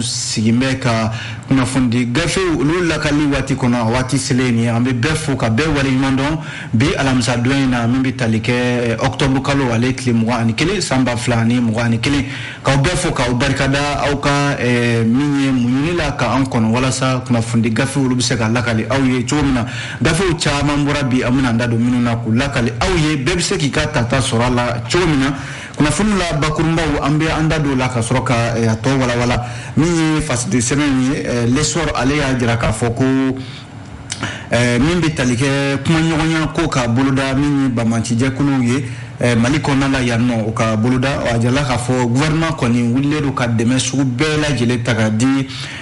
sigin bɛ ka kunnafonidi gafew olu lakali waati kɔnɔ a waati selen ye an bɛ bɛɛ fo ka bɛɛ waleɲuman dɔn bi alamisadon in na min bɛ tali kɛ ɔkutɔbu kalo ale tile mugan ani kelen san ba fila ani mugan ani kelen k'aw bɛɛ fo k'aw barikada aw ka min ye muɲuni la ka an kɔnɔ walasa kunnafonidi gafe olu bɛ se ka lakali aw ye cogo min na gafew caman bɔra bi an bɛna an da don minnu na k'u lakali aw ye bɛɛ bɛ se k'i ka tata sɔrɔ a la cogo min na kunnafoni la bakurunbaw an bɛ an da don la ka sɔrɔ ka eh, a tɔ walawala min ye fasidi sɛbɛn ye eh, l'essor ale y'a jira k'a fɔ ko eh, min bɛ tali kɛ kumaɲɔgɔnya ko ka boloda min ye banbaancijɛkuluw ye Eh, mali kɔnɔna la yan nɔ o ka boloda a jirala k'a fɔ gouvernement kɔni wulilen don ka dɛmɛ sugu bɛɛ lajɛlen ta ka di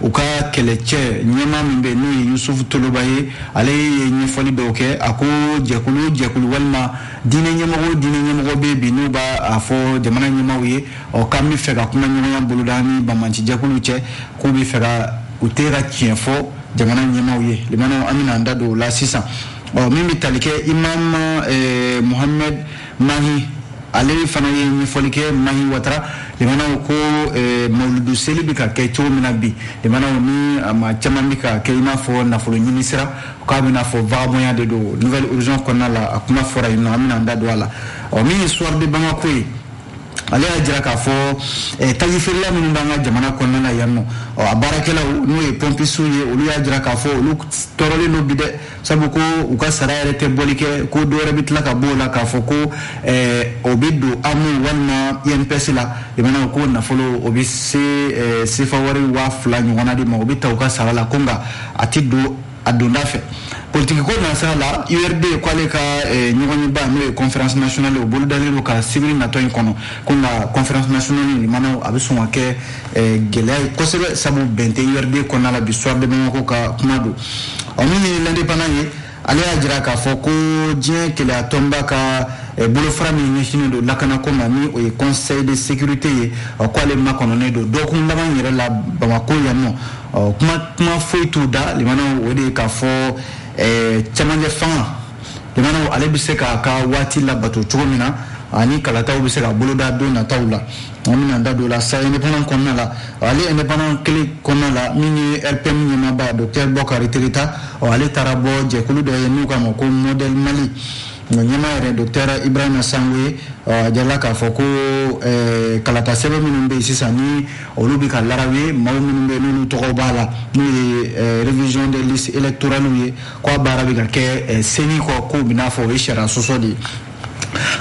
u ka kɛlɛcɛ ɲɛmaa min bɛ n'o ye yusufu toloba ye ale ye ɲɛfɔli dɔw kɛ a ko jɛkulu jɛkulu walima diinɛ ɲɛmɔgɔ diinɛ ɲɛmɔgɔ bɛ bi n'u b'a fɔ jamana ɲɛmaaw ye ɔ k'an b'a fɛ ka kuma ɲɔgɔnya boloda ni banbaanci jɛkulu cɛ k'u bɛ fɛ ka u tɛ ka tiɲɛ fɔ jamana ɲɛmaaw ye lamɛnnaw an bɛna an da don o la sisan ɔ min bɛ tali kɛ imamu muhame Mahi ale fana ye ɲɛfɔli kɛ Mahi Watara lamɛnnaw ko eh, mawuludu seli bɛ ka kɛ cogo min na bi lamɛnnaw ni maa caman bɛ k'a kɛ i n'a fɔ nafolo ɲini sira k'a bɛ n'a fɔ vagabɔnya de don nouvel horizon kɔnɔna la a kuma fɔra yen nɔ an bɛna an da don a la ɔ min ye soir de bamako ye ale y'a jira k'a fɔ eh, taji feerela minnu b'an ka jamana kɔnɔna na yan nɔ ɔ a baarakɛlaw n'o ye pɔmpisiw ye olu y'a jira k'a fɔ olu tɔɔrɔlen don bi dɛ sabu ko u ka sara yɛrɛ tɛ bɔli kɛ ko dɔwɛrɛ bɛ tila ka bɔ o la k'a fɔ ko eh, o bɛ don amo walima inps la lamɛnnaw ko nafolo o bɛ se eh, sefa wari waa fila ɲɔgɔnna de ma o bɛ ta u ka sara la ko nka a tɛ don a donda fɛ politikiko nasira la urd ko ale ka eh, ɲɔgɔnyeba n'o ye conférence nationale o bolodalen don ka sibiri natɔ in kɔnɔ ko nka conférence nationale lamɛnnaw a bɛ sɔn ka kɛ Eh, gɛlɛya ye kosɛbɛ sabu bɛn tɛ urd kɔnɔna la bi soir de bamako ka kuma don ɔ min ye l'indépendant ye ale y'a jira k'a fɔ ko diɲɛ kelenyatɔnba ka eh, bolofara min ɲɛsinnen don lakanako ma ni o ye conseil de sécurité ye k'ale makɔnɔnen don dɔgɔkun laban yɛrɛ la bamako yan nɔ kuma kuma foyi t'u da lamɛnnaw o de ye k'a fɔ eh, cɛmancɛ fanga lamɛnnaw ale bɛ se k'a ka waati labato cogo min na ani kalataw bɛ se ka boloda don nataw la an bɛna an da don la sa indépendant kɔnɔna la ale indépendant kelen kɔnɔna la min ye rpm ɲɛmaaba docteur bɔkari tereta ale taara bɔ jɛkulu dɔ ye n'u k'a ma ko modèle mali a ɲɛmaa yɛrɛ docteur ibrahima sango ye a jirala k'a fɔ ko kalata sɛbɛn minnu bɛ yen sisan ni olu bɛ ka laraw ye maaw minnu bɛ yen n'olu tɔgɔw b'a la n'o ye révision des listes électorales ye k'a baara bɛ ka kɛ ceni kɔ k'o bɛ n'a fɔ o ye sariya sɔsɔ de ye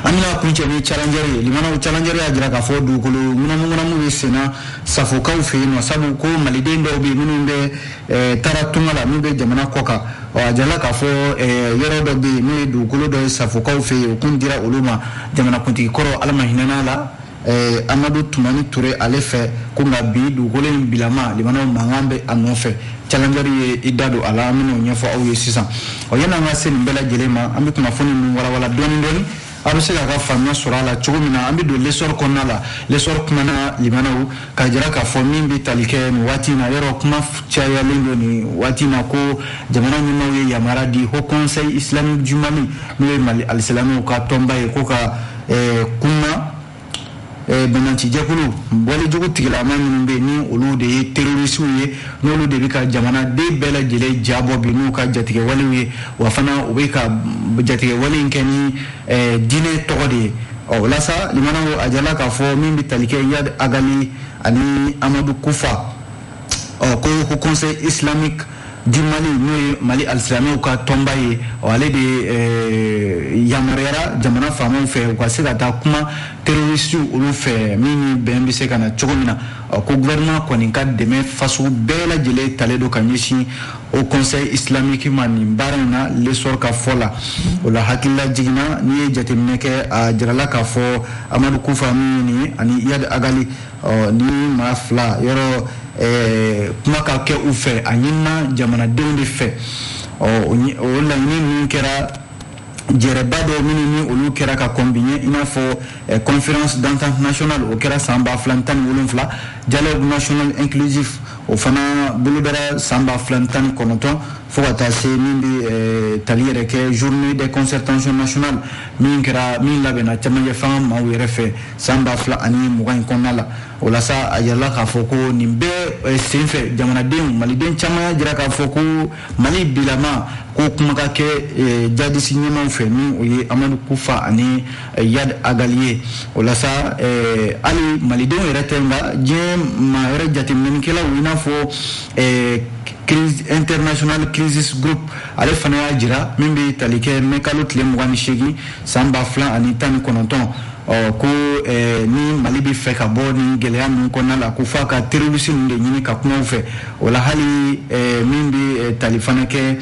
an bɛna kuncɛ ni challenger ye limanaw challenger y'a jira k'a fɔ dugukolo ŋunamuŋunamu bɛ senna safokaw fɛ yen nɔ sabu ko maliden dɔw bɛ yen minnu bɛ eh, taara tunga la n'u bɛ jamana kɔkan ɔ a jirala k'a fɔ eh, yɔrɔ dɔ bɛ yen n'o ye dugukolo dɔ ye safokaw fɛ yen o kun dira olu ma jamanakuntigi kɔrɔ ala ma hinɛna a la Eh, amadu tumani ture ale fɛ ko nka bi dugukolo in bilama limanaw mankan bɛ a nɔfɛ challenger ye i da don a la an bɛn'o ɲɛfɔ aw ye sisan ɔ yan'an ka se nin bɛɛ lajɛlen ma an bɛ kunnafoni ninnu walawala dɔɔni dɔɔni aw bɛ se k'a ka faamuya sɔrɔ a la cogo min na an bɛ don lesɔri kɔnɔna la lesɔri kumana limanaw k'a jira k'a fɔ min bɛ tali kɛ nin waati in na yɔrɔ kuma cayalen don nin waati in na ko jamana ɲɛmaaw ye yamaruya di haut conseil islamique du mali n'o ye mali alisilamɛw ka tɔnba ye ko ka ɛɛ kuma ɛɛ banbaancijɛkulu walejugu tigilama minnu bɛ yen ni olu de ye terorisiw ye n'olu de bɛ ka jamanaden bɛɛ lajɛlen ja bɔ bi n'u ka jatigɛwalew ye wa fana u bɛ ka jatigɛwale in kɛ ni ɛɛ diinɛ tɔgɔ de ye ɔ o la sa limanaw a jirala k'a fɔ min bɛ tali kɛ yad agali ani amadu kufa ɔ ko haut conseil islamique du mali n'o ye mali alisilamɛw ka tɔnba ye ɔ ale de eh, yamaruyara jamana faamaw fɛ u ka se ka taa kuma terorisiw olu fɛ min ni bɛn bɛ se ka na cogo min na ɔ ko gouvernement kɔni ka dɛmɛ fasugu bɛɛ lajɛlen talen don ka ɲɛsin haut conseil islamique ma nin baara in na lesɔr ka fɔ la o la hakililajigin na n'i ye jateminɛ kɛ a jirala k'a fɔ amadu kufa min ye nin ye ani yadi agali ɔ nin maa fila yɔrɔ eh, kuma ka kɛ u fɛ a ɲinina jamanadenw de fɛ ɔ o laɲini ninnu kɛra jɛrɛba dɔ minnu ni olu kɛra ka kɔn bi ɲɛ i n'a fɔ eh, conférence d'entente nationale o kɛra san ba fila ni tan ni wolonfila dialogue national inclusif o fana bolodara san ba fila ni tan ni kɔnɔntɔn fo ka taa se min bɛ eh, tali yɛrɛ kɛ journée des concertations nationales min kɛra min labɛnna cɛmancɛ fanga maaw yɛrɛ fɛ san ba fila ani mugan in kɔnɔna la o la sa a jirala k'a fɔ ko nin bɛɛ eh, senfɛ jamanadenw maliden caman y'a jira k'a fɔ ko mali bilama ko kuma ka kɛ eh, jadisi ɲɛmaaw fɛ ni o ye amadu kufa ani eh, yad agali ye o la sa hali malidenw yɛrɛ tɛ nka diɲɛ maa yɛrɛ jateminɛnikɛlaw i n'a fɔ crise international crisis group ale fana y'a jira min bɛ tali kɛ mɛ kalo tile mugan ni seegin san ba fila ani tan ni kɔnɔntɔn ɔ ko eh, ni mali bɛ fɛ ka bɔ nin gɛlɛya ninnu kɔnɔna la ko fo a ka terorisi ninnu de ɲini ka kuma u fɛ o la hali eh, min bɛ eh, tali fana kɛ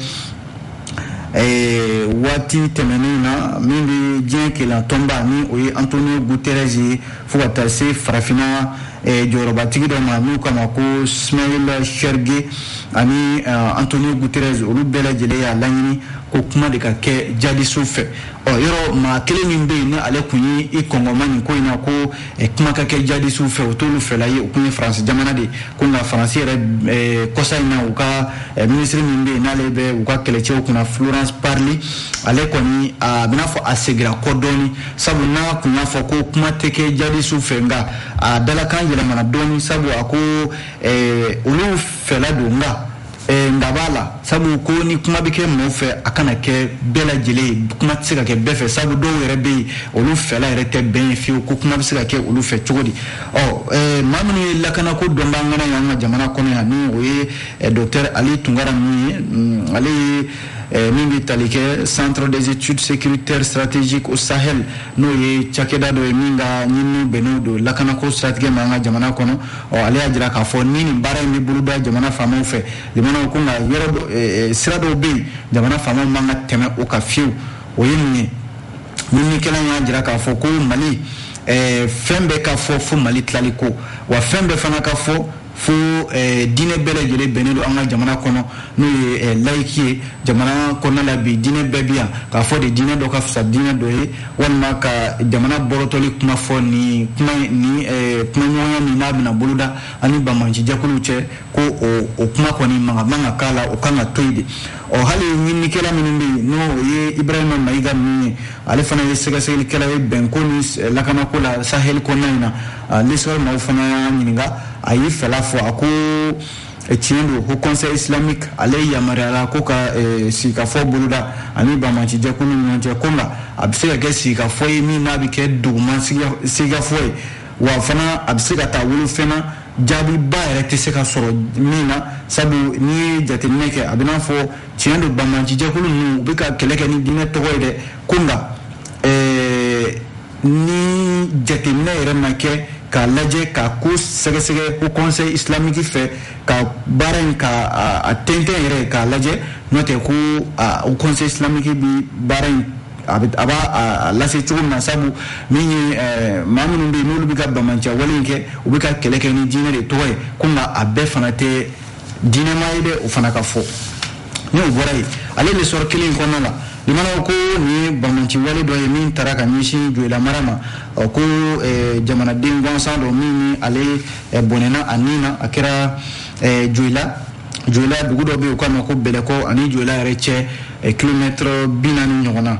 eh, waati tɛmɛnenw na min bɛ diɲɛ kelenya tɔnba ni o ye antonio guterres ye fo ka taa se farafinna eh, jɔyɔrɔbatigi dɔ ma n'u k'a ma ko smail chergui ani eh, antonio guterres olu bɛɛ lajɛlen y'a laɲini ko kuma de ka kɛ jadisiw fɛ ɔ yɔrɔ maa kelen min bɛ yen ni ale tun ye i kɔngɔma nin ko in na ko eh, kuma ka kɛ jadisiw fɛ o t'olu fɛla ye o tun ye faransi jamana de ko nka faransi yɛrɛ eh, kɔsa in na u ka eh, minisiri min bɛ yen n'ale bɛ u ka kɛlɛcɛw kunna florence parly ale kɔni a bɛ n'a fɔ a segira kɔ dɔɔni sabu n'a tun y'a fɔ ko kuma tɛ kɛ jadisiw fɛ nka a dalakan yɛlɛmana dɔɔni sabu a ko olu fɛla don nka dan b'a la sabu ko ni kuma bɛ kɛ mɔgɔw fɛ a kana kɛ bɛɛ lajɛlen kuma tɛ se ka kɛ bɛɛ fɛ sabu dɔw yɛrɛ bɛ yen olu fɛla yɛrɛ tɛ bɛn ye fiyewu ko kuma bɛ se ka kɛ olu fɛ cogo di ɔ maa minnu ye lakanako dɔnbaa ŋana ye an ka jamana kɔnɔ yan ni o ye dɔkitɛri ali tunkara ninnu ye mm, ale ye Eh, min bɛ tali kɛ centre des études sécuritaires stratégiques au sahel n'o ye cakɛda dɔ ye min ka ɲininiw bɛnnen don lakanako siratigɛ ma an ka jamana kɔnɔ ɔ ale y'a jira k'a fɔ ni nin baara in bɛ boloda jamana faamaw fɛ jamanaw ko nka yɔrɔ dɔ- eh, eh, sira dɔw bɛ yen jamana faamaw man ka tɛmɛ o kan fiyewu o ye mun ye ɲininikɛla in y'a jira k'a fɔ ko mali eh, fɛn bɛɛ ka fɔ fo mali tilali ko wa fɛn bɛɛ fana ka fɔ fo eh, diinɛ bɛɛ lajɛlen bɛnnen don an ka jamana kɔnɔ n'o ye eh, layiki ye jamana kɔnɔna la bi diinɛ bɛɛ bi yan k'a fɔ de diinɛ dɔ ka fisa diinɛ dɔ ye walima ka jamana bɔrɔtɔli kuma fɔ ni kuma ni eh, kuma ɲɔgɔnya min n'a bɛna boloda ani banbaanci jɛkuluw cɛ ko o kuma kɔni man man ka k'a la o kan ka to yen de ɔ hali ɲininikɛla minnu bɛ yen n'o o ye ibrahima mayiga ninnu ye ale fana ye sɛgɛsɛgɛlikɛla ye bɛnko ni eh, lakanako la sahɛli kɔnɔna in na ah, lesɔrɔ maaw fana y'a ɲininka a y'i fɛla fɔ a ko tiɲɛ don ko conseil islamique ale yamaruyara ko ka eh, sigikafɔ boloda ani banbaanci jɛkulu ni ɲɔgɔn cɛ ko nka a bɛ se ka kɛ sigikafɔ ye min n'a bɛ kɛ duguma sigikafɔ ye wa fana a bɛ se ka taa wolo fɛn na jaabiba yɛrɛ tɛ se ka sɔrɔ min na sabu n'i ye jateminɛ kɛ a bɛ n'a fɔ tiɲɛ don banbaanci jɛkulu ninnu u bɛ ka kɛlɛ kɛ ni diinɛ tɔgɔ ye dɛ ko nka eh, ni jateminɛ yɛrɛ ma kɛ k'a lajɛ ka ko sɛgɛsɛgɛ ko conseil islamique fɛ ka baara in k'a tɛntɛn yɛrɛ k'a lajɛ n'o tɛ ko haut conseil islamique bi baara in a b'a lase cogo min na sabu min ye maa minnu bɛ yen n'olu bɛ ka banbaanci wale in kɛ u bɛ ka kɛlɛ kɛ ni diinɛ de tɔgɔ ye ko nka a bɛɛ fana tɛ diinɛma ye dɛ o fana ka fɔ n'o bɔra yen ale lesɔrɔ kelen kɔnɔna la limanaw ko nin ye banbaanci wale dɔ ye min tara ka ɲɛsin joyilamara ma ko eh, jamanaden gansan dɔ min ni ale eh, bɔnɛna a ni na a kɛra eh, joyila joyila dugu dɔ bɛ yen u k'a ma ko bɛlɛkɔ ani joyila yɛrɛ cɛ kilomɛtɛrɛ bi naani ɲɔgɔn na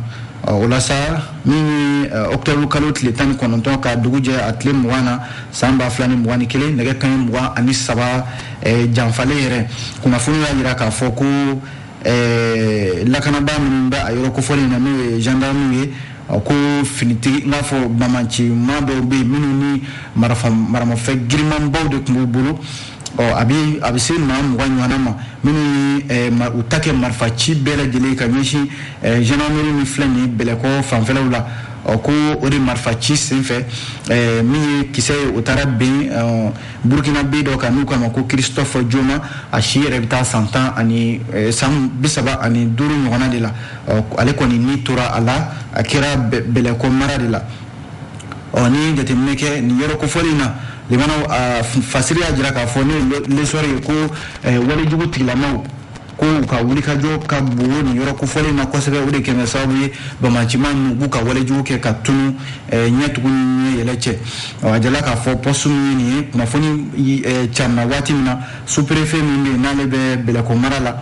o la sa min ye ɔkutɔburu kalo tile tan ni kɔnɔntɔn ka dugu jɛ a tile mugan na san ba fila ni mugan ni kelen nɛgɛ kaɲɛ mugan ani saba eh, janfalen yɛrɛ kunnafoni y'a jira k'a fɔ ko eh, lakanabaa minnu bɛ a yɔrɔ kofɔlen in na n'o ye gendarmew ye ko finitigi n k'a fɔ banbaanci maa dɔw bɛ yen minnu ni maramafɛn girinmanbaw de tun b'u bolo ɔ a bɛ a bɛ se maa mugan ɲɔgɔnna ma minnu ye eh, u ta kɛ marifa ci bɛɛ lajɛlen ka ɲɛsin eh, gendarmerie min filɛ nin bɛlɛkɔ fanfɛlaw la ɔ ko o de marifa ci senfɛ eh, min ye kisɛ ye o taara ben burkinabè dɔ kan n'u k'a ma ko christophe joma a si yɛrɛ bɛ taa san tan ani san bi saba ani duuru ɲɔgɔnna de la ɔ ale kɔni ni tora a la a kɛra bɛlɛkɔ mara de la ɔ n'i ye jateminɛ kɛ nin yɔrɔ kofɔlen in na limanaw a fasiri y'a jira k'a fɔ n'o ye le soir ye ko walejugu tigilamaw ko u ka wulikajɔ ka bon nin yɔrɔ kofɔlen in na kosɛbɛ o de kɛlen sababu ye banbaanci maa ninnu b'u ka walejugu kɛ ka tunu ɲɛ tugu ni yɛlɛ cɛ a jirala k'a fɔ poste min nin ye kunnafoni carinna waati min na sous-préfet min bɛ yen n'ale bɛ bɛlɛkɔ mara la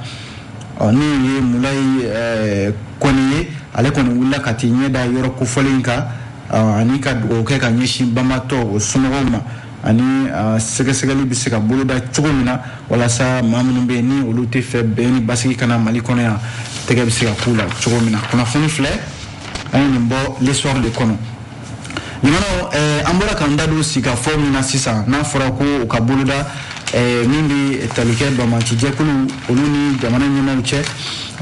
ɔ n'o ye mulayi eh, kɔnɛ ye ale kɔni wulila ka t'i ɲɛ da yɔrɔ kofɔlen in kan ah, ani ka dugawu kɛ ka ɲɛsin banbaatɔ o somɔgɔw ma ani ah, sɛgɛsɛgɛli bɛ se ka boloda cogo min na walasa maa minnu bɛ yen ni olu t'a fɛ bɛn ni basigi ka na mali kɔnɔ yan tɛgɛ bɛ se ka k'u la cogo min na kunnafoni filɛ an ye nin bɔ le soir de kɔnɔ limanaw eh, an bɔra k'an da don sigikafɔ min na sisan n'a fɔra ko u k'a boloda eh, min bɛ tali kɛ banbaanci jɛkulu olu ni jamana ɲɛmaaw cɛ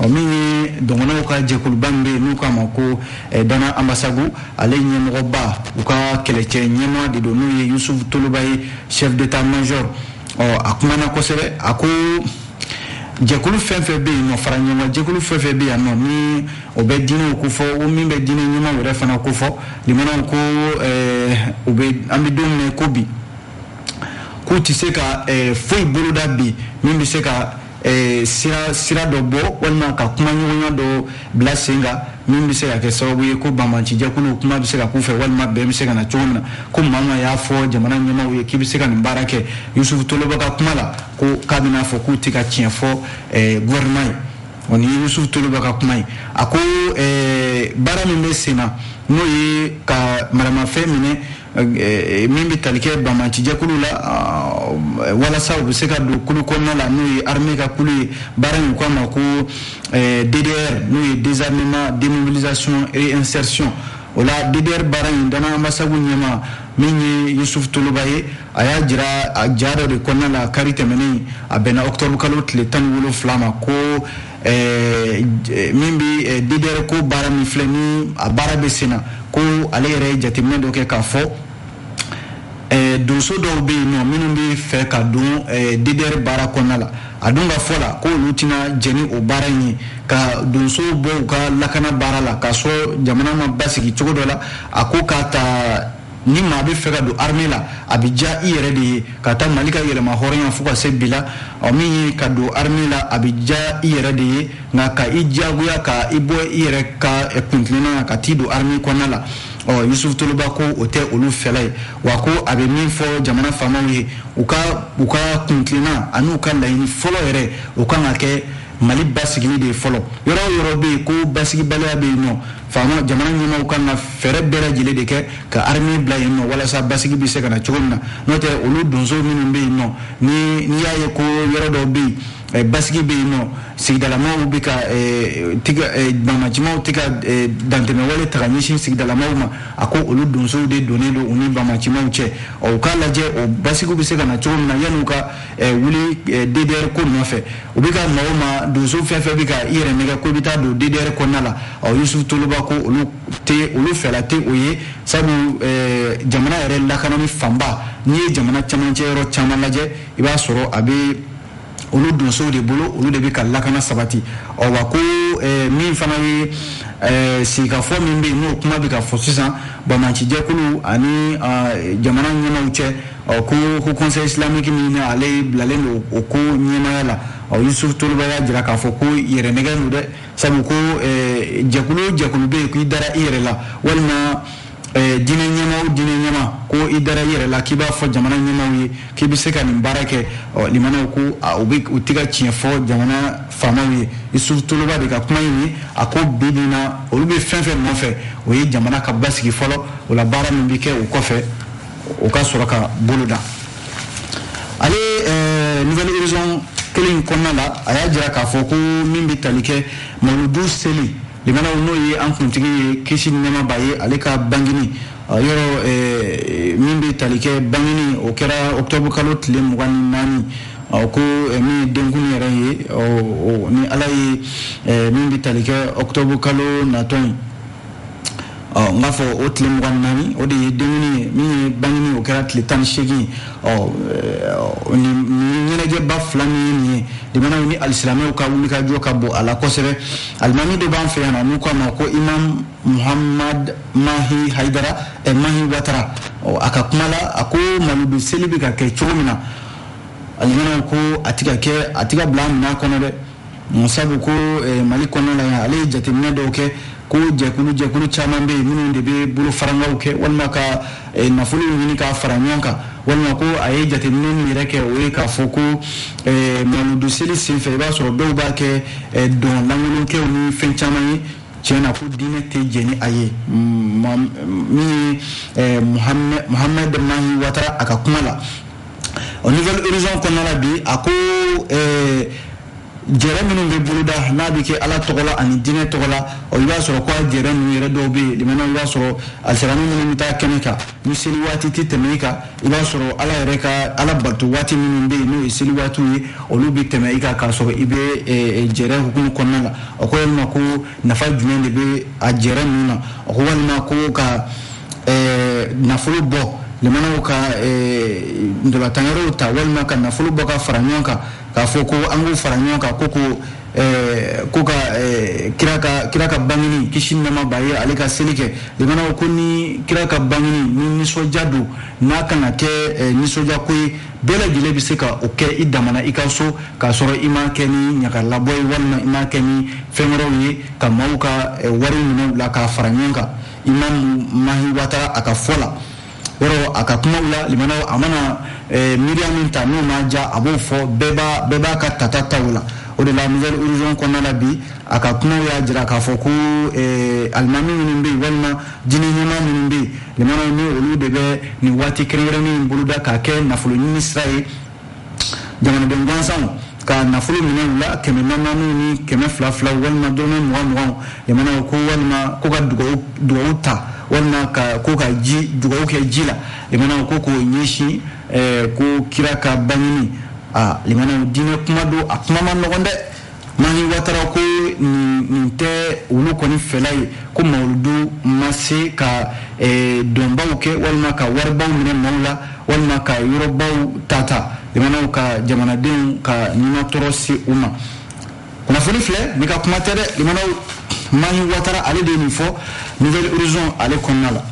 ɔ min ye dɔgɔnɔw ka jɛkuluba min bɛ yen n'u k'a ma ko eh, dana anbasagu ale ɲɛmɔgɔba u ka kɛlɛcɛ ɲɛmaa de don n'o ye yusufu toloba ye chef d'état major ɔ a kumana kosɛbɛ a ko jɛkulu fɛn fɛn bɛ yen n'u fara ɲɔgɔn jɛkulu fɛn fɛn bɛ yan nɔ ni o bɛ diinɛw ko fɔ o min bɛ diinɛ ɲɛmaaw yɛrɛ fana ko fɔ limanaw ko eh, u bɛ an bɛ don min ko bi k'u tɛ se ka eh, foyi boloda bi min bɛ se ka eh, sira sira dɔ bɔ walima ka kumaɲɔgɔnya dɔ bila sen kan min bɛ se ka kɛ sababu ye ko banbaanci jɛkuluw kuma bɛ se ka k'u fɛ walima bɛn bɛ se ka na cogo min na ko maa o maa y'a fɔ jamana ɲɛmaaw ye k'i bɛ se ka nin baara kɛ yusufu toloba ka kuma la ko k'a bɛna fɔ k'u tɛ ka tiɲɛ fɔ eh, gouvernement ye ɔ nin ye yusufu toloba ka kuma ye a ko eh, baara min bɛ sen na n'o ye ka maramafɛn minɛ eh, min bɛ tali kɛ banbaanci jɛkulu la ah, walasa u bɛ se ka don kulu kɔnɔna la n'o ye armée ka kulu ye baara in u k'a ma ko DDR n'o ye désarmement démobilisation réinsertion o la DDR baara in dana anbasagu ɲɛmaa min ye yusufu toloba ye a y'a jira a ja dɔ de kɔnɔna la kari tɛmɛnen a bɛnna octobre kalo tile tan ni wolonfila ma ko eh, eh, min bɛ eh, ddr ko baara min filɛ ni a baara bɛ senna ko ale yɛrɛ ye jateminɛ dɔ kɛ k'a fɔ donso dɔw bɛ yen nɔ minnu bɛ fɛ ka don ddr baara kɔnɔna la a dun ka fɔ la ko olu tɛna jɛn ni o baara in ye ka donso bɔ u ka lakana baara la k'a sɔrɔ jamana ma basigi cogo dɔ la a ko k'a ta ni maa bɛ fɛ ka don armée la a bɛ diya i yɛrɛ de ye k'a ta Mali ka yɛrɛmahɔrɔnya fo ka se bi la ɔ min ye ka don armée la a bɛ diya i yɛrɛ de ye nka ka i diyagoya ka i bɔ i yɛrɛ ka kuntilenna na ka t'i don armée kɔnɔna la ɔ Yusufu Toloba ko o tɛ olu fɛla ye wa ko a bɛ min fɔ jamana faamaw ye u ka u ka kuntilenna an'u ka laɲini fɔlɔ yɛrɛ o kan ka kɛ mali basigili de ye fɔlɔ yɔrɔ o yɔrɔ bɛ yen ko basigibaliya bɛ yen nɔ faama jamana ɲɛmaaw kan ka fɛɛrɛ bɛɛ lajɛlen de kɛ ka armée bila yen nɔ walasa basigi bɛ se ka na cogo min na n'o tɛ olu donso minnu bɛ yen nɔ ni n'i y'a ye ko yɔrɔ dɔw bɛ yen eh, basigi bɛ yen nɔ sigidalamaw bɛ ka eh, tigɛ eh, bamacimaw tɛ ka dantɛmɛwale ta ka ɲɛsin sigidalamaw ma a ko olu donsow de donnen don u ni bamacimaw cɛ ɔ u k'a lajɛ o basigiw bɛ se ka na cogo min na yanni u ka wuli DDR ko nɔfɛ u bɛ ka maa o maa donso fɛn fɛn bɛ ka i yɛrɛ nɛgɛn ko i bɛ taa don DDR kɔnɔna la ɔ Yusufu Toloba ko olu tɛ olu fɛla tɛ o ye sabu jamana yɛrɛ lakanani fanba n'i ye jamana camancɛ yɔrɔ caman lajɛ i b'a sɔrɔ a bɛ olu donsow de bolo olu de bɛ ka lakana sabati ɔ wa ko min fana ye sigikafɔ min bɛ yen n'o kuma bɛ ka fɔ sisan bamaci jɛkulu ani jamana ɲɛmaaw cɛ ɔ ko ko conseil islamique min na ale bilalen don o ko ɲɛmaaya la ɔ yusufu toloba y'a jira k'a fɔ ko yɛrɛnɛgɛn don dɛ sabu ko eh, jɛkulu o jɛkulu bɛ yen ko i dara i yɛrɛ la walima eh, diinɛ ɲɛmaa o diinɛ ɲɛmaa ko i dara i yɛrɛ la k'i b'a fɔ jamana ɲɛmaaw ye k'i bɛ se ka nin baara kɛ ɔ lamɛnnaw ko u bɛ u tɛ ka tiɲɛ fɔ jamana faamaw ye yusufu toloba de ka kuma in ye a ko bi bi na olu bɛ fɛn fɛn nɔfɛ o ye jamana ka basigi fɔlɔ o la baara min bɛ kɛ o kɔfɛ o ka sɔrɔ ka boloda ale eh, nouvel horizon kelen in kɔnɔna la a y'a jira k'a fɔ ko min bɛ tali kɛ mawuludu seli lamɛnnaw n'o ye an kuntigi ye kisi ni nɛɛma b'a ye ale ka bangini yɔrɔ eh, min bɛ tali kɛ bangini o kɛra octobre kalo tile mugan ni naani ko eh, min ye denkundi yɛrɛ ye ni ala ye min bɛ tali kɛ octobre kalo natɔ ye ɔ n b'a fɔ o tile mugan ni naani o de ye denkuni ye min ye bangini o kɛra tile tan ni seegin ɔ nin ɲɛnajɛba fila min ye nin ye limanaw ni alisilamɛw ka wulikajɔ ka bon a la kosɛbɛ alimami dɔ b'an fɛ yan na n'u k'a ma ko imam muhammad mahi haidara ɛ mahi watara ɔ a ka kuma la a ko mawuludu seli bɛ ka kɛ cogo min na limanaw ko a ti ka kɛ a ti ka bila minɛn kɔnɔ dɛ sabu ko eh, mali kɔnɔna la ale ye jateminɛ dɔw kɛ ko jɛkulu jɛkulu caman bɛ yen minnu de bɛ bolo farankanw kɛ walima ka eh, nafolo ɲini k'a fara ɲɔgɔn kan walima ko a ye jateminɛ min yɛrɛ kɛ o ye k'a fɔ ko eh, mawuludu seli senfɛ i b'a sɔrɔ dɔw b'a kɛ dɔn lankolonkɛw ni fɛn caman ye tiɲɛ na ko diinɛ tɛ jɛn ni a ye mm, min ye muhamɛd mahi watara a ka kuma la o nouvel horizon kɔnɔna la bi a ko eh, jɛrɛ minnu bɛ boloda n'a bɛ kɛ ala tɔgɔ la ani diinɛ tɔgɔ la i b'a sɔrɔ ko a jɛrɛ ninnu yɛrɛ dɔw bɛ yen limanaw i b'a sɔrɔ alisilamɛ minnu bɛ taa kɛnɛ kan ni seli waati tɛ tɛmɛ i kan i b'a sɔrɔ ala yɛrɛ ka ala bato waati minnu bɛ yen n'o ye seli waatiw ye olu bɛ tɛmɛ i kan k'a sɔrɔ i bɛ eh, eh, jɛrɛ hukumu kɔnɔna la o ko walima ko nafa jumɛn de bɛ a jɛrɛ ninnu na a ko walima ko ka eh, nafolo bɔ limanaw ka eh, ntolatanyɔrɔw ta walima ka nafolo bɔ ka fara ɲɔgɔn kan k'a fɔ ko an k'u fara ɲɔgɔn kan ko ko eh, ko ka eh, kira ka kira ka bangini kisi ni nɛɛma b'a ye ale ka seli kɛ limanaw ko ni kira ka bangini ni nisɔndiya don n'a kan ka kɛ eh, nisɔndiya ko ye bɛɛ lajɛlen bɛ se ka o kɛ i damana i ka so k'a sɔrɔ i m'a kɛ ni ɲagalabɔ ye walima i m'a kɛ ni fɛn wɛrɛw ye ka maaw ka eh, wari minɛ u la k'a fara ɲɔgɔn kan imam mahi watara a ka fɔ la yɔrɔ a ka kumaw la limanaw a mana eh, miiriya min ta n'o ma ja a b'o fɔ bɛɛ b'a bɛɛ b'a ka tata ta o la o de la nouvel horizon kɔnɔna la bi a ka kumaw y'a jira k'a fɔ ko eh, alimami minnu bɛ yen walima Diinɛ ɲɛmaa minnu bɛ yen, limanaw ni olu de bɛ nin waati kɛrɛnkɛrɛnnen in boloda k'a kɛ nafolo ɲini sira ye jamanaden gansanw ka nafolo minɛ u la kɛmɛ naaniw ni kɛmɛ fila filaw walima dɔrɔmɛ mugan muganw limanaw ko walima ko ka dugawu dugawu ta walima ka ko ka ji dugawu kɛ ji la limanaw ko k'o ɲɛsin ko kira ka bangini a limanaw diinɛ kuma don a kuma man nɔgɔn dɛ Mahi watara ko nin tɛ olu kɔni fɛla ye ko mawuludu ma se ka dɔnbaw kɛ walima ka waribaw minɛ maaw la walima ka yɔrɔbaw tata limanaw ka jamanadenw ka nimatɔɔrɔ se u ma kunnafoni filɛ ne ka kuma tɛ dɛ mahi watara ale de ye nin fɔ nouvel horizon ale kɔnɔna la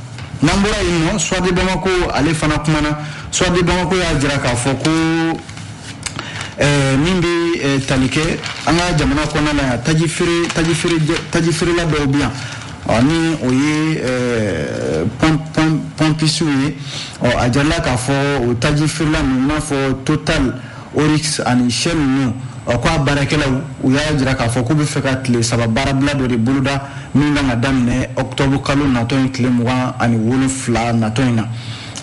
n'an bɔra yen le soir de bamakɔ ko ale fana kumana soir de bamakɔ y'a jira k'a fɔ ko Eh, min bɛ eh, tali kɛ an ka jamana kɔnɔna la yan taji feere taji feere taji feerela dɔw bɛ yan ɔ ni o ye eh, pɔmpisiw ye ɔ a jarala k'a fɔ o taji feerela ninnu i n'a fɔ total oryx ani shell ninnu ɔ ko a baarakɛlaw u y'a jira k'a fɔ k'u bɛ fɛ ka tile saba baarabila dɔ de boloda min kan ka daminɛ ɔkutɔbu kalo natɔ in tile mugan ani wolonfila natɔ in na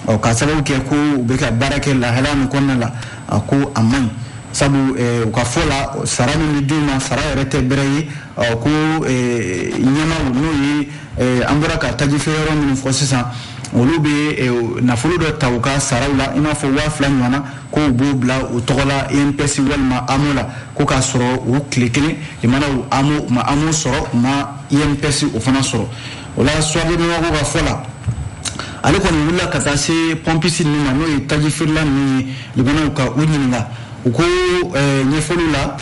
ɔ k'a sababu kɛ ko u bɛ ka baara kɛ lahala min kɔnɔna la a ko a man ɲi sabu u ka fɔ la sara min bɛ d'u ma sara yɛrɛ tɛ bɛrɛ ye ɔ ko ɲɛmaaw n'o ye an bɔra ka taji feere yɔrɔ minnu fɔ sisan olu bɛ nafolo dɔ ta u ka saraw la i n'a fɔ waa fila ɲɔgɔnna ko u b'o bila u tɔgɔ la INPS walima AMO la ko k'a sɔrɔ u tile kelen limanaw u ma AMO sɔrɔ u ma INPS o fana sɔrɔ o la Soir de Bamako ka fɔ la ale kɔni wulila ka taa se pɔmpisi ninnu ma n'o ye taji feerela ninnu ye limanaw ka u ɲininka u ko eh, ɲɛfɔliw la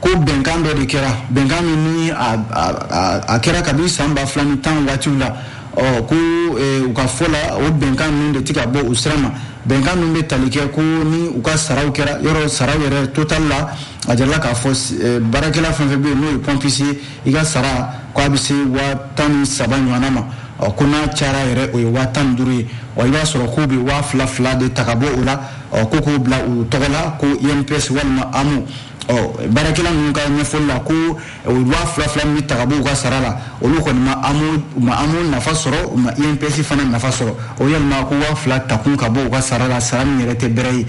ko bɛnkan dɔ de kɛra bɛnkan min ni a kɛra kabini san ba fila ni tan waatiw la ɔ ko eh, u ka fɔ la o bɛnkan ninnu de tɛ ka bɔ u sira ma bɛnkan ninnu bɛ tali kɛ ko ni u ka saraw kɛra yɔrɔ saraw yɛrɛ total la a jarala k'a fɔ eh, baarakɛla fɛn fɛn bɛ yen n'o ye pɔmpisi ye i ka sara ko a bɛ se waa tan ni saba ɲɔgɔnna ma ɔ ko n'a cayara yɛrɛ o ye waa tan ni duuru ye ɔ i b'a sɔrɔ k'u bɛ waa fila fila de ta ka bɔ o la ɔ ko k'o bila u tɔgɔ la ko INPS walima AMO ɔ baarakɛla ninnu ka ɲɛfɔli la ko o waa fila fila min bɛ ta ka bɔ u ka sara la olu kɔni ma AMO u ma AMO nafa sɔrɔ u ma INPS fana nafa sɔrɔ o yalima ko waa fila takun ka bɔ u ka sara la sara min yɛrɛ tɛ bɛrɛ ye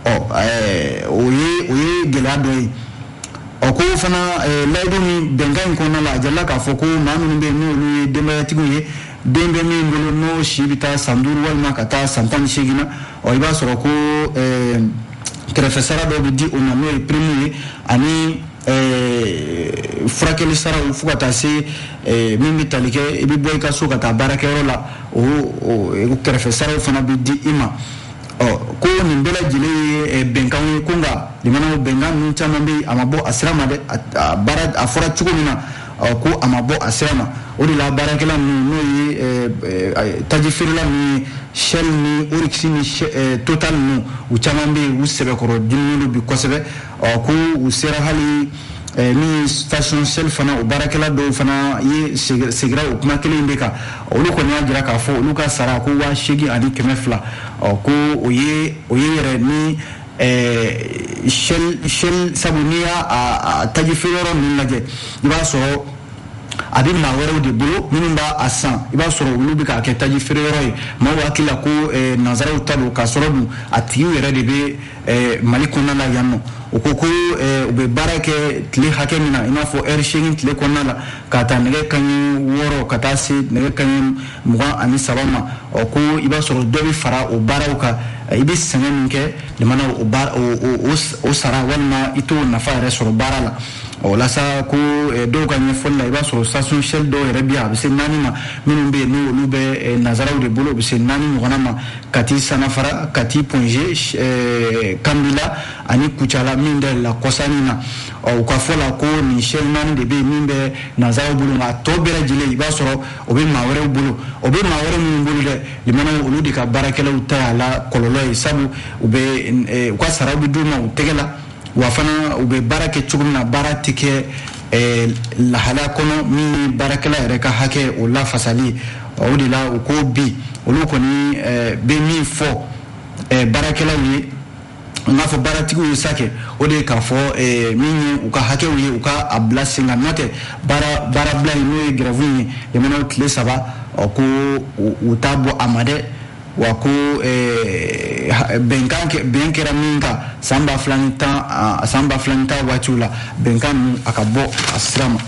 ɔ ɛɛ o ye o ye gɛlɛya dɔ ye. Ɔ ko fana layidu min bɛnkan in kɔnɔna la a jarala k'a fɔ ko maa minnu bɛ n'olu ye denbayatigiw ye den bɛ min bolo n'o si bɛ taa san duuru walima ka taa san tan ni seegin na ɔ i b'a sɔrɔ ko kɛrɛfɛ sara dɔ bɛ di o ma n'o ye prime ye ani furakɛli sara fo ka taa se min bɛ tali kɛ i bɛ bɔ i ka so ka taa baarakɛyɔrɔ la o kɛrɛfɛ saraw fana bɛ di i ma ɔ ko nin bɛɛ lajɛlen ye eh, bɛnkanw ye ko nka limanaw bɛnkan ninnu caman bɛ yen a ma bɔ a sira ma dɛ a baara a fɔra cogo min na ɔ ko a ma bɔ a sira ma o de la baarakɛla ninnu n'o ye eh, eh, taji feerela ninnu ye shell ni oryx ni total ninnu u caman bɛ yen u sɛbɛkɔrɔ diminen don bi kosɛbɛ ɔ ko u sera hali eh, min station shell fana o baarakɛla dɔw fana ye segira o kuma kelen de kan olu kɔni y'a jira k'a fɔ olu ka sara ko waa seegin ani kɛmɛ fila ɔ ko o ye o ye yɛrɛ ni eh, shell shell sabu n'i y'a taji feere yɔrɔ ninnu lajɛ i b'a sɔrɔ a bɛ maa wɛrɛw de bolo minnu b'a san i b'a sɔrɔ olu bɛ k'a kɛ taji feere yɔrɔ ye maaw hakili la ko eh, nanzaraw ta don k'a sɔrɔ dun a tigiw yɛrɛ de bɛ Eh, mali kɔnɔna la yan nɔ u ko ko eh, u bɛ baara kɛ tile hakɛ min na i n'a fɔ ɛri seegin tile kɔnɔna la k'a ta nɛgɛ kaɲɛ wɔɔrɔ ka taa se nɛgɛ kaɲɛ mugan ani saba ma ɔ ko i b'a sɔrɔ dɔ bɛ fara o baaraw kan eh, i bɛ sɛgɛn min kɛ jamana o sara walima i t'o nafa yɛrɛ sɔrɔ baara la o la sa ko dɔw ka ɲɛfɔli la i b'a sɔrɔ station shell dɔw yɛrɛ bɛ a bɛ se naani ma minnu bɛ yen n'olu bɛ nanzaraw de bolo u bɛ se naani ɲɔgɔnna ma kati sanafara kati ponge eh, kambila ani kucala min dayɛlɛla kɔsa in na ɔ u ka fɔ la ko nin shell naani de bɛ yen min bɛ nanzaraw bolo nka a tɔ bɛɛ lajɛlen i b'a sɔrɔ o bɛ maa wɛrɛw bolo o bɛ maa wɛrɛ minnu bolo dɛ limanaw olu de ka baarakɛlaw ta y'a la kɔlɔlɔ ye sabu u bɛ eh, u ka saraw bɛ d'u ma u tɛgɛ la wa fana u bɛ baara kɛ cogo min na baara tɛ kɛ eh, lahalaya kɔnɔ min ye baarakɛla yɛrɛ ka hakɛ o lafasali o de la u ko bi olu kɔni eh, bɛ min fɔ eh, baarakɛlaw ye n k'a fɔ baaratigiw ye sa kɛ o de ye k'a fɔ eh, min ye u ka hakɛw ye u ka a bila sen kan n'o tɛ baara baarabila in n'o ye gɛrɛfu in ye jamanaw tile saba ɔ ko u u t'a bɔ a ma dɛ wa ko bɛnkan bɛn kɛra min kan san ba fila ni tan san ba fila ni tan waatiw la bɛnkan ninnu a ka bɔ a sira ma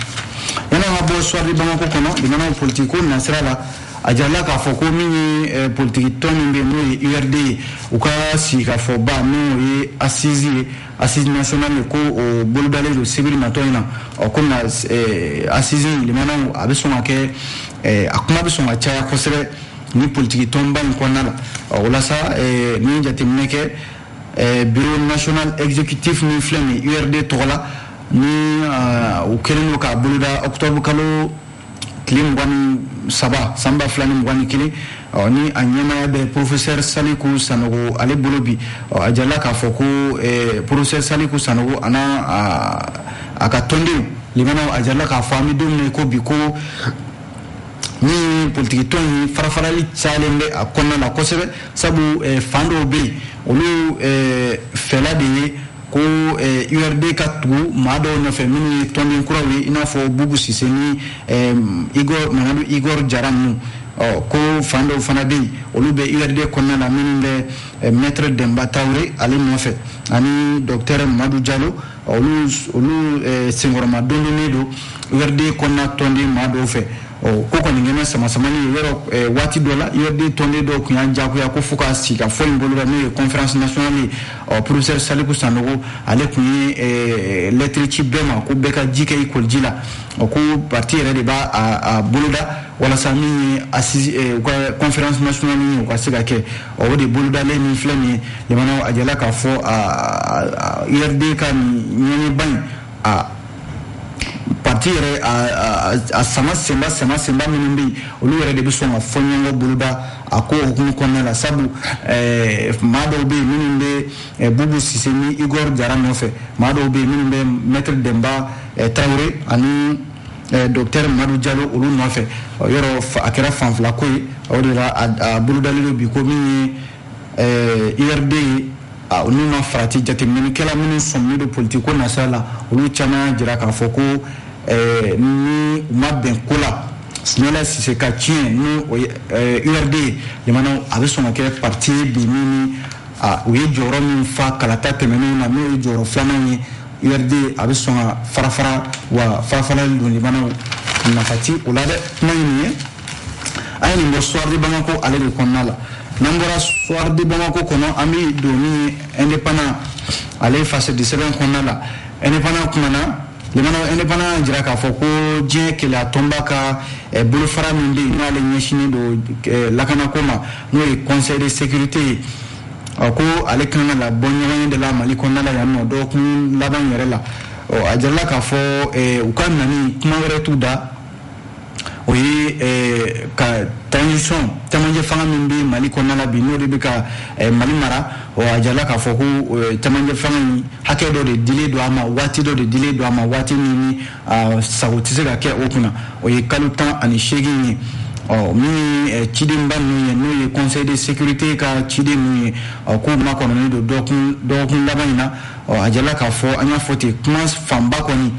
yanni an ka bɔ soir de bamako kɔnɔ jamanaw politikiko nasira la a jirala k'a fɔ ko min ye politiki tɔn min bɛ n'o ye urd ye u ka sigikafɔba n'o ye assise ye assise nationale ye ko o bolodalen don sibiri natɔ in na ɔ ko na assise limanaw a bɛ sɔn ka kɛ a kuma bɛ sɔn ka caya kosɛbɛ ni politiki tɔnba in kɔnɔna la o la sa eh, ni jateminɛ kɛ eh, bureau national exécutif min filɛ nin urd tɔgɔ la ni ah, u kɛlen don k'a boloda octobre kalo tile mugan ni saba san ba fila ni mugan ni kelen ɔ ni a ɲɛmaaya bɛ professeur saliku sanogo ale bolo bi ɔ a jirala k'a fɔ ko eh, professeur saliku sanogo ani a, a ka tɔndenw limanaw a jirala k'a fɔ an bɛ don min na i ko bi ko ni politikitɔn in farafarali cayalen bɛ a kɔnɔna la kosɛbɛ sabu eh, fan dɔw bɛ yen olu eh, fɛla de ye ko eh, urd ka tugu maa dɔw nɔfɛ minnu ye tɔnden kuraw ye i n'a fɔ bubu sise ni igor mamadu igor jara ninnu ko fan dɔw fana bɛ yen olu bɛ urd kɔnɔna la minnu bɛ maître denba traore ale nɔfɛ ani docteur madu jalo olu olu senkɔrɔma dondonlen don urd kɔnɔna tɔnden maa dɔw fɛ ko kɔni kɛlen sama samani ye yɔrɔ waati dɔ la urd tɔnden dɔw tun y'a jagoya ko fo ka sigikafɔ in boloda n'o ye conférence nationale ye ɔ professeur saliku sanogo ale tun ye lɛtiri ci bɛɛ ma ko bɛɛ ka ji kɛ i koliji la ɔ ko parti yɛrɛ de b'a boloda walasa min ye u ka conférence nationale ye u ka se ka kɛ o de bolodalen min filɛ nin ye limanaw a jɛla k'a fɔ URD ka ɲɔgɔnyeba in a parti yɛrɛ a sama senba sama senba minnu bɛ yen olu yɛrɛ de bɛ sɔn ka fɔɲɔgɔnkɔ boloda a ko hukumu kɔnɔna la sabu maa dɔw bɛ yen minnu bɛ bubu sise ni igor jara nɔfɛ maa dɔw bɛ yen minnu bɛ maître demba traoré ani Eh, docteur madu jalo olu nɔfɛ yɔrɔ a kɛra fan fila ko ye o de la a bolodalen don bi ko min ye URD eh, ye n'u ma farati jateminɛkɛla minnu sɔminen don politiki ko nasira la olu caman y'a jira k'a fɔ ko eh, ni u ma bɛn ko la sumayila sise ka ciyɛn ni o ye URD ye jamana a bɛ sɔn ka kɛ parti ye bi min ni u ye jɔyɔrɔ min fa kalata tɛmɛnenw na n'o ye jɔyɔrɔ filanan ye URD a bɛ sɔn ka farafara wa farafarali don limanaw nafa ti o la dɛ kuma ye nin ye an ye nin bɔ soir de Bamako ale de kɔnɔna la n'an bɔra soir de Bamako kɔnɔ an bɛ don min ye indépendant ale ye gazɛti sɛbɛn kɔnɔna la indépendant kumana limanaw indépendant y'a jira k'a fɔ ko diɲɛ kelenya tɔnba ka eh, bolofara min bɛ yen n'ale ɲɛsinnen don eh, lakanako ma n'o ye conseil de sécurité ye a ko ale kan ka na bɔ ɲɔgɔnye de la mali kɔnɔna la yan nɔ dɔgɔkun laban yɛrɛ la a jirala k'a fɔ u ka nani kuma wɛrɛ t'u da o ye ka transition camancɛ fanga min bɛ mali kɔnɔna la bi n'o de bɛ ka mali mara a jirala k'a fɔ ko camancɛ fanga in hakɛ dɔ de dilen don a ma waati dɔ de dilen don a ma waati min a sagon tɛ se ka kɛ o kunna o ye kalo tan ani seegin ye ɔ min ye cidenba ninnu ye n'o ye conseil de sécurité ka ciden ninnu ye ɔ k'u makɔnɔnen don dɔgɔkun dɔgɔkun laban in na ɔ a jɛla k'a fɔ an y'a fɔ ten kuma fanba kɔni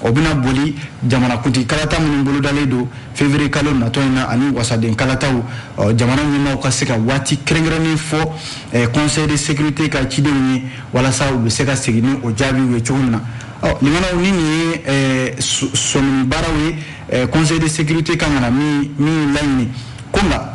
o bɛna boli jamanakuntigi kalata minnu bolodalen don février kalo natɔ in na ani wasaden kalataw ɔ jamana ɲɛmaaw ka se ka waati kɛrɛnkɛrɛnnen fɔ conseil de sécurité ka cidenw ye walasa u bɛ se ka segin ni o jaabiw ye cogo min na Limanaw ni nin ye sɔmini baaraw ye conseil de sécurité kan ka na min laɲini ko nka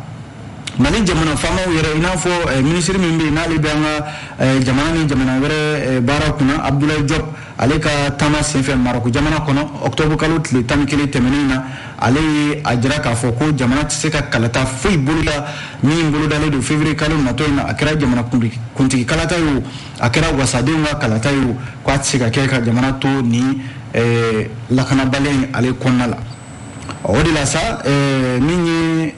mali jamana faamaw yɛrɛ i n'a fɔ ministre min bɛ yen n'ale bɛ an ka jamana ni jamana wɛrɛ baara kunna abdoulaye diop ale ka taama senfɛ marɔku jamana kɔnɔ octobre kalo tile tan ni kelen tɛmɛnen na ale ye a jira k'a fɔ ko jamana tɛ se ka kalata foyi boloda min bolodalen don février kalo natɔ in na a kɛra jamanakuntigi kalata ye a kɛra wasadenw ka kalata ye k'a tɛ se ka kɛ ka jamana to ni eh, lakanabaliya in ale kɔnɔna la o de la sa eh, min ye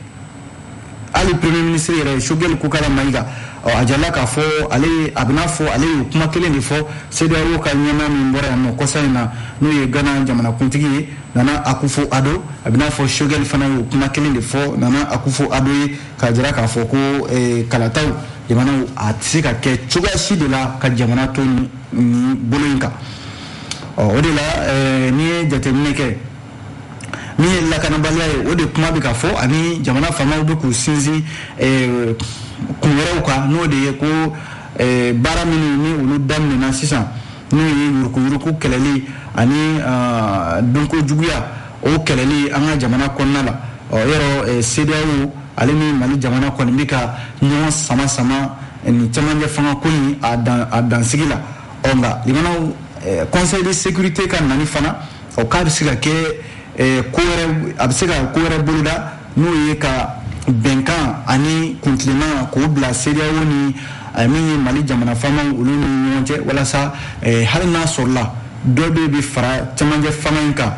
hali premier ministre yɛrɛ ye sogɛli kokala mayiga a jirala k'a fɔ ale a b'i n'a fɔ ale ye kuma kelen de fɔ CEDEAO ka ɲɛmaa min bɔra yan nɔ kɔsa in na n'o ye gana jamanakuntigi ye nana akufo ado a b'i n'a fɔ sogɛli fana ye kuma kelen de fɔ nana akufo ado ye k'a jira k'a fɔ ko eh, kalataw jamanaw a tɛ se ka kɛ cogoya si de la ka jamana to nin bolo in kan o de la eh, n'i ye jateminɛ kɛ min ye lakanabaliya ye o de kuma bɛ ka fɔ ani jamana faamaw bɛ k'u sinsin eh, kun wɛrɛw kan n'o de ye ko baara minnu ni olu daminɛna sisan n'o ye yurukuyuruku kɛlɛli ani donko juguya O kɛlɛli an ka jamana kɔnɔna la o yɔrɔ CEDEAO ale ni mali jamana kɔni bɛ ka ɲɔgɔn sama sama ni camancɛ fanga ko in a dansigi la ɔ nka limanaw conseil de sécurité ka nani fana ɔ k'a bɛ se ka kɛ a bɛ se ka ko wɛrɛ boloda n'o ye ka bɛnkan ani kuntilenna k'o bila CEDEAO ni eh, min ye mali jamana faamaw olu ni ɲɔgɔn cɛ walasa eh, hali n'a sɔrɔla dɔ bɛ bɛ fara cɛmancɛ fanga in kan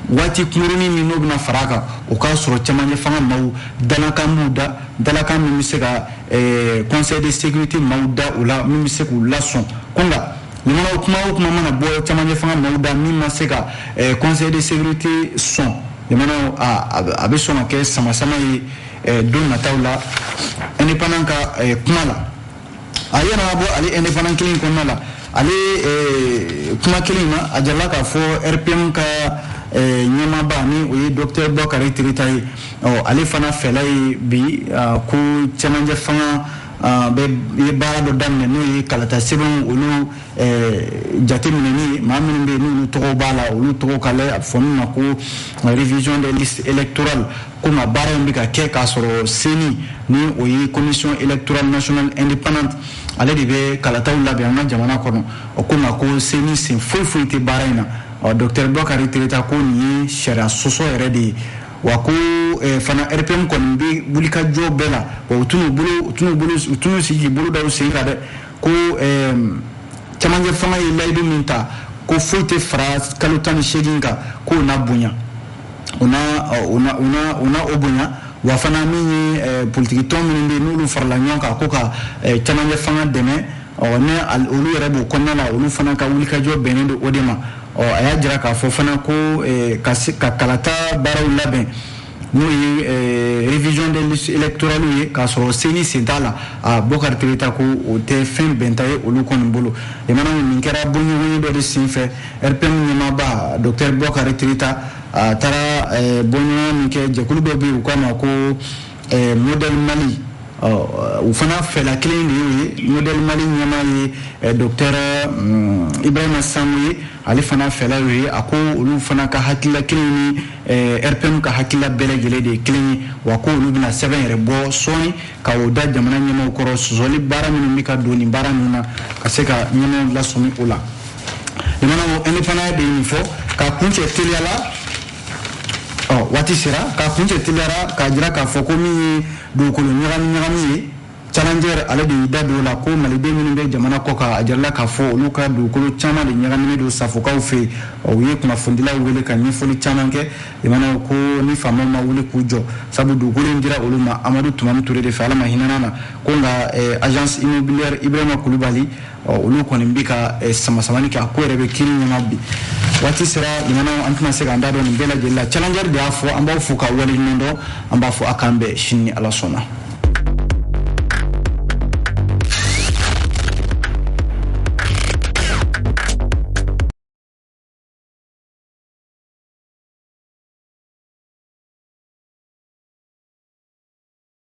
waati kunkurunin min n'o bɛna fara a kan o k'a sɔrɔ cɛmancɛ fanga maaw dalakan b'u da dalakan min bɛ se ka eh, conseil de sécurité maaw da o la min bɛ se k'u lasɔn ko nka Limanaw kuma o kuma mana bɔ camancɛ fanga maaw da min ma se ka eh, conseil de sécurité sɔn limanaw a bɛ sɔn ka kɛ samasama ye eh, don nataw la indépendant ka eh, kuma la a yɛrɛ bɔ ale indépendant kelen kɔnɔna la ale kuma kelen na a jirala k'a fɔ rpm ka ɲɛmaaba ni o ye docteur bokari tereta ye ale fana fɛla ye bi ko cɛmancɛ fanga bɛ ye baara dɔ daminɛ n'o ye kalata sɛbɛnw olu jateminɛni maa minnu bɛ n'olu tɔgɔ b'a la olu tɔgɔ ka a fɔ min ma ko révision des listes électorales ko nka baara in bɛ ka kɛ k'a sɔrɔ CENI ni o ye commission électorale nationale indépendante ale de bɛ kalataw labɛn an ka jamana kɔnɔ o ko nka ko CENI sen foyi foyi tɛ baara in na ɔ docteur Bokari Tereta ko nin ye sariya sɔsɔ yɛrɛ de ye wa ko eh, fana rpm kɔni bɛ wulikajɔ bɛɛ la wa u tɛna sigi bolo da u sen kan dɛ ko eh, camancɛ fanga ye layidu min ta ko foyi tɛ fara kalo tan ni seegin kan k'o na bonya u na u na u na u na o bonya wa fana min ye eh, politikitɔn minnu bɛ yen n'olu farala ɲɔgɔn kan ko ka camancɛ fanga dɛmɛ ɔ ni olu yɛrɛ b'o kɔnɔna la olu fana ka wulikajɔ bɛnnen don o de ma ɔ a y'a jira k'a fɔ fana ko eh, ka se ka kalata baaraw labɛn n'o ye eh, révision des listes électorales ye k'a sɔrɔ CENI sen t'a la a bokari tereta ko o tɛ fɛn bɛnta ye olu kɔni bolo limanaw nin kɛra bɔɲɔgɔnye dɔ de sen fɛ rpm ɲɛmaaba docteur bokari tereta a taara eh, bɔɲɔgɔnye min kɛ jɛkulu dɔ bɛ yen u k'a ma ko ɛɛ modèle Mali ɔ u fana fɛla kelen de y'o ye modèle Mali ɲɛmaa ye eh, docteur mm, Ibrahima Sango ye ale fana fɛla y'o ye a ko olu fana ka hakilila kelen ni eh, RPM ka hakilila bɛɛ lajɛlen de ye kelen ye wa ko olu bɛna sɛbɛn yɛrɛ bɔ sɔɔni ka o da jamana ɲɛmaaw kɔrɔ sɔsɔli baara minnu bɛ ka don nin baara ninnu na ka se ka ɲɛmaaw lasɔmi o la limanaw indépendant de ye nin fɔ k'a kuncɛ teliya la ɔ waati sera k'a kuncɛ teliya la k'a jira k'a fɔ ko min ye dugukolo ɲagami ɲagami ye challenger ale de y'i da don o la ko maliden minnu bɛ jamana kɔkan a jirala k'a fɔ olu ka dugukolo caman de ɲagaminen don safokaw fɛ yen u ye kunnafonidilaw wele ka ɲɛfɔli caman kɛ limanaw ko ni faamaw ma wuli k'u jɔ sabu dugukolo in dira olu ma amadu tumani ture de fɛ ala ma hinɛna na ko nka eh, agence immobilière ibrahima kulubali olu kɔni bɛ ka eh, samasamani kɛ a ko yɛrɛ bɛ kiri ɲɛma bi waati sera limanaw an tɛna se k'an da don nin bɛɛ lajɛlen la challenger de y'a fɔ an b'aw fo k'aw waleɲuman dɔn an b'a fɔ a k'an bɛn sini ni ala sɔnna